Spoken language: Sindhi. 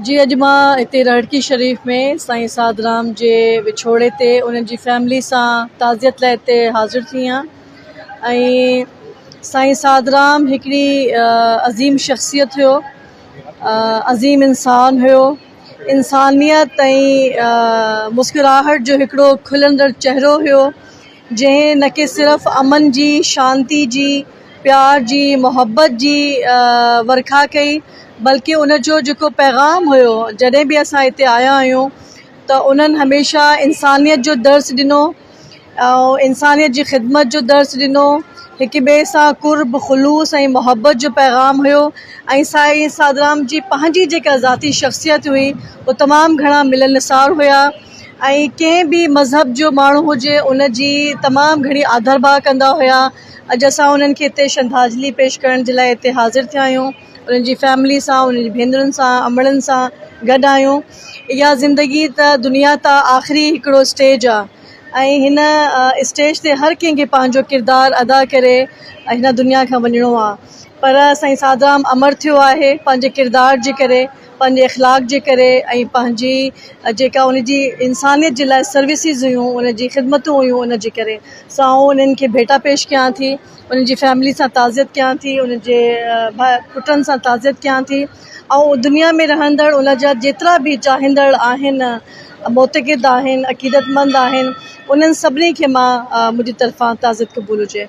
جي اڄ مان هتي رڙڪي شريف ۾ سائين سعد رام جي وڇوڙي تي انهن جي فيملي سان تعزيت لاء هتي حاضر ٿي آهيان ۽ سائين سعد رام هڪڙي عظيم شخصيت هيو عظيم انسان هيو انسانيت ۽ مسڪراهٽ جو هڪڙو کلندڙ چهرو هيو جنهن نه ڪي صرف امن جي، شانتي جي، پيار جي، محبت جي ورکا ڪئي بلڪ ان جو جيڪو پيغام هيو جڏهن به اسان هتي آيا آهيون ته انهن هميشه انسانيت جو درس ڏنو ۽ انسانيت جي خدمت جو درس ڏنو هڪ ٻئي سان قرب خلوص ۽ محبت جو پيغام هيو ۽ سائين سادرام جي پنهنجي جيڪا ذاتي شخصيت هئي هو تمام گهڻا ملنسار هيا ۽ ڪنهن به مذهب جو ماڻهو هجي ان جي تمام گهڻي آڌر ڀاء ڪندا هيا اڄ اسان انهن کي هتي شرڌاجلي پيش ڪرڻ جي لاء هتي حاضر ٿيا آهيون انهن جي فيملي سان انهن جي ڀينرن سان امڙن سان گڏ آهيون اها زندگي ته دنيا تان آخري هڪڙو اسٽيج آ ۽ هن اسٽيج تي هر ڪنهن کي پنهنجو ڪردار ادا ڪري هن دنيا کان وڃڻو آ پر سائين سادرام امر ٿيو آهي پنهنجي ڪردار جي ڪري پنهنجي اخلاق جي ڪري ۽ پنهنجي جيڪا ان جي انسانيت جي لاء سروسز هيون ان جي خدمتون هيون ان جي ڪري سو آئون انهن کي ڀيٽا پيش ڪيان ٿي انهن جي فيملي سان تعزيت ڪيان ٿي انهن جي ڀا پٽن سان تعزيت ڪيان ٿي آئون دنيا ۾ رهندڙ ان جا جيترا به چاهيندڙ آهن معتقد آهن عقيدت مند آهن انهن سڀني کي مان منهنجي طرفان تعزيت قبول هجي